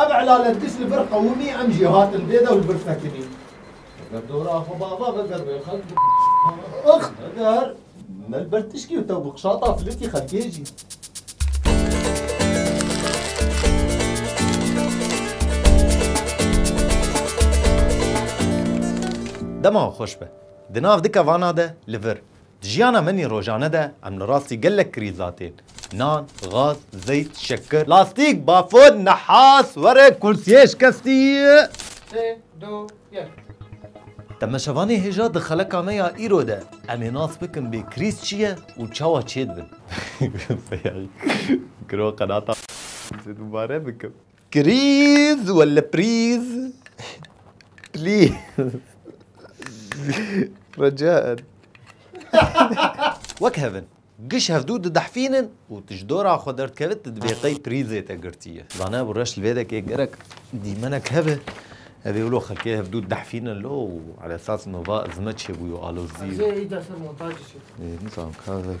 Ev elalet kişt li vir qewimî em jî hatin dê de û li vir sekinîn. Heger dora xwe bava veger wê xelk bi ix heger me li ber tişkî û tew bi qişata flitî xelkê jî. Dema xweş be. Di nav di kevana de li vir. Di jiyana menî rojane de em li rastî gelek krîzatên, nan, gaz, zeyt, şekir, lastîk, bafûn, nehas, were, kursiyê şikestî. Sê, du, yek. Temeşevanê hêja di xeleka me ya îro de em ê nas bikin bê krîz çi ye û çawa çêdibin. Seyayî, giroo qenata. Dibare bikim. Krîz wele prîz Please Recaen Wek hev in. Giş hevdu didehfînin û tu ji dora xwe derdkevit tu dibê qey prîzê te girtiye. Zane bu reş li vê dekê gerek dîmenek hebe. Evê wilo xelkê hevdu didehfînin lo û ala esas nova izme çêbûyo alozî. Ezê ey dest li montajê çêdikim. Ê nizanim kavek.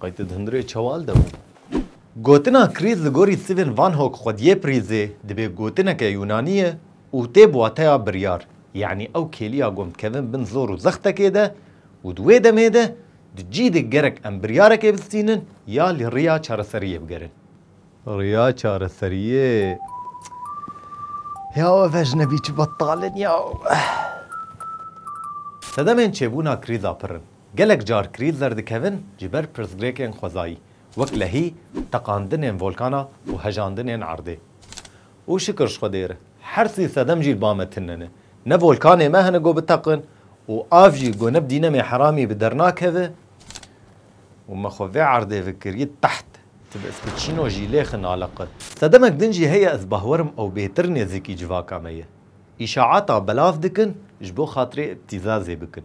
Qey tu di hundirê çewal de bû? Gotina krîz li gorî Stephen Van Hok xwediyê prîzê dibê gotineke Yûnanî ye û tê bi wateya biryar, yanî ew kêliya gom dikevin bin zor û zextekê de û di wê demê de di cî de gerek em biryarekê bistînin ya li riya çareseriyê bigerin. Riya çareseriyê. Ya ev ecnebî çi betal in ya. Sedemên çêbûna krîza pir in. Gelek car krîz derdikevin ji ber pirsgirêkên xwezayî, wek lehî teqandinên volkana û hejandinên erdê. Û şikir ji Xwedê re, her sî sedem jî li ba me tune ne. Ne volkanê me hene ku biteqin û av jî ku ne bi dînemê heramî bi der nakeve û me xwe vê erdê ve kiriye teht, ti bi Spicino jî lê xin aliqin. Sedemek din jî heye ez bah werim ew bêtir nêzîkî civaka me ye. Îşaata belav dikin ji bo xatirê îbtîzazê bikin.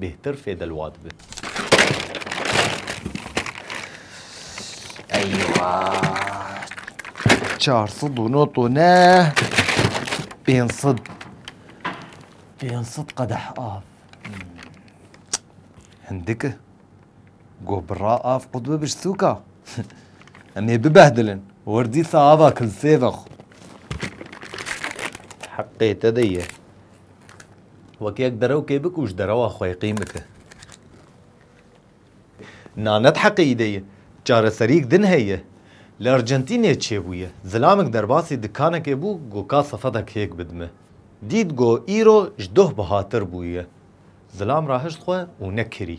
bêhtir fê delwa dibe. Eywa! Çar sed û no tone pênc sed pênc sed qedeh av. Hindike go bi ra av qut bibiş sûka. Em ê bibehdilin. Wer dîsa ava kilsê vexwe. Heqê te de ye. Wek yek derewkê bi ku ji derewa xwe qîm bike. Nanet heqîde ye. Çareseriyek din heye. Li Argentînê çêbûye. Zilamek derbasî dikanekê bû ku ka sefetek hêk bidime. Dît ku îro ji doh bihatir bûye. Zilam rahişt xwe û nekirî.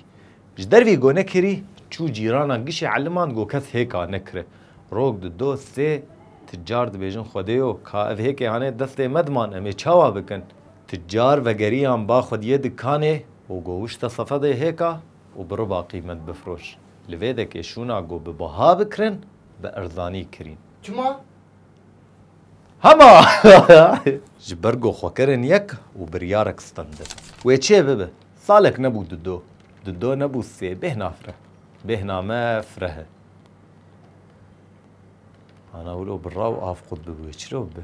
Ji ber vî ku nekirî, çû cîrana gişê eliman ku kes hêk a nekire. Rok di do sê ti car dibêjin Xwedêyo ka ev hêkê hane destê me diman em ê çawa bikin? Ticar vegeriyan ba xwediyê dikanê û go wişte sefedê hêka û bi riba qîmet bifiroş. Li vê dekê şûna go bi biha bikirin, bi erzanî kirîn. Çima? Hema! Ji ber go xwe kirin yek û biryarek stendin. Wê çê bibe. Salek nebû du do. Du do nebû sê. Bêhna fireh. Bêhna me firehe. Ana wilo birra û av qut bibûye. Çiro bibe?